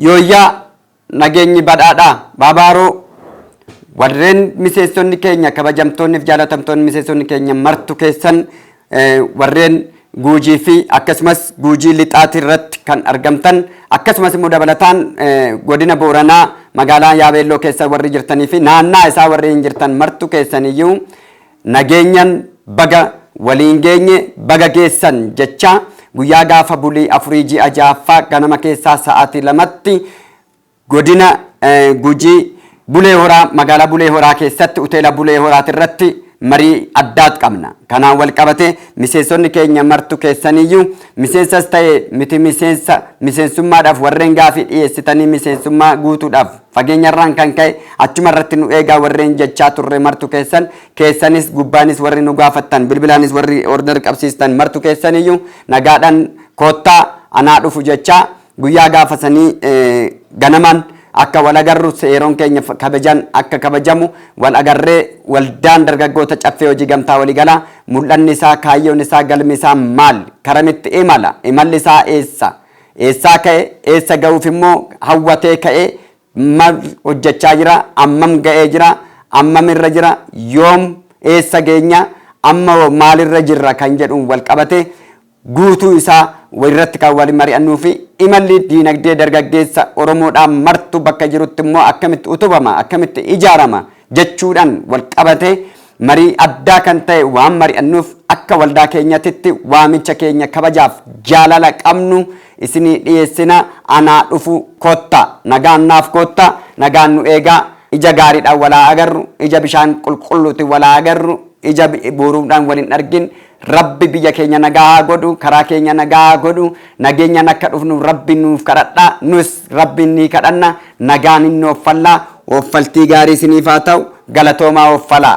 Yooyyaa nageenyi badhaadhaa baabaaroo warreen miseessonni keenya kabajamtoonni fi jaalatamtoonni miseessonni keenya martu keessan eh, warreen guujii fi akkasumas guujii lixaati irratti kan argamtan akkasumas immoo dabalataan eh, godina booranaa magaalaa yaabeelloo keessa warri jirtanii fi naannaa isaa warri hin jirtan martu keessaniyyuu Nageenyan baga waliin geenye baga geessan jechaa guyyaa gaafa bulii 4 ji'a 6ffaa ganama keessaa sa'aatii 2tti godina Gujii Bulee Horaa magaalaa Bulee Horaa keessatti Uteela Bulee Horaatirratti marii addaat qabna. Kanaan walqabatee miseensonni keenya martu keessaniyyuu miseensas ta'e miti miseensa miseensummaadhaaf warreen gaafii dhiyeessitanii miseensummaa guutuudhaaf Fageenyarraan kan ka'e achuma irratti nu eegaa warreen jechaa turre martu keessan, keessanis gubbaanis warri nu gaafattan, bilbilaanis warri order qabsiistan martu keessaniyyuu nagaadhaan koottaa anaa dhufu jechaa guyyaa gaafa sanii ganamaan akka wal agarru seeroon keenya kabajaan akka kabajamu wal agarree waldaan dargaggoota caffee hojii gamtaa waliigalaa mul'anni isaa kaayyoon isaa galmi isaa maal karamitti imala imalli isaa eessa Eessaa ka'e eessa ga'uuf immoo hawwatee ka'ee mal hojjechaa jira, ammam ga'ee jira, ammam irra jira, yoom eessa geenya, amma hoo maalirra jirra kan jedhuun wal qabatee guutuu isaa irratti kan wal mari'annuu fi imalli diinagdee dargaggeessa Oromoodhaa martuu bakka jirutti immoo akkamitti utubama, akkamitti ijaarama, jechuudhaan walqabatee marii addaa kan ta'e waan mari'annuuf akka waldaa keenyatitti waamicha keenya kabajaaf jaalala qabnu isinii dhiyeessina anaa dhufu koottaa nagaan naaf koottaa nagaan nu eegaa ija gaariidhaan wal haa agarru ija bishaan qulqulluutiin wal haa agarru ija buuruudhaan wal hin argin Rabbi biyya keenya nagaa haa godhu karaa keenya nagaa haa godhu nageenyaan akka dhufnu rabbi nuuf kadhadha nus rabbiin ni kadhanna nagaan hin ooffalla ooffaltii gaarii isiniif haa ta'u galatoomaa ooffalaa.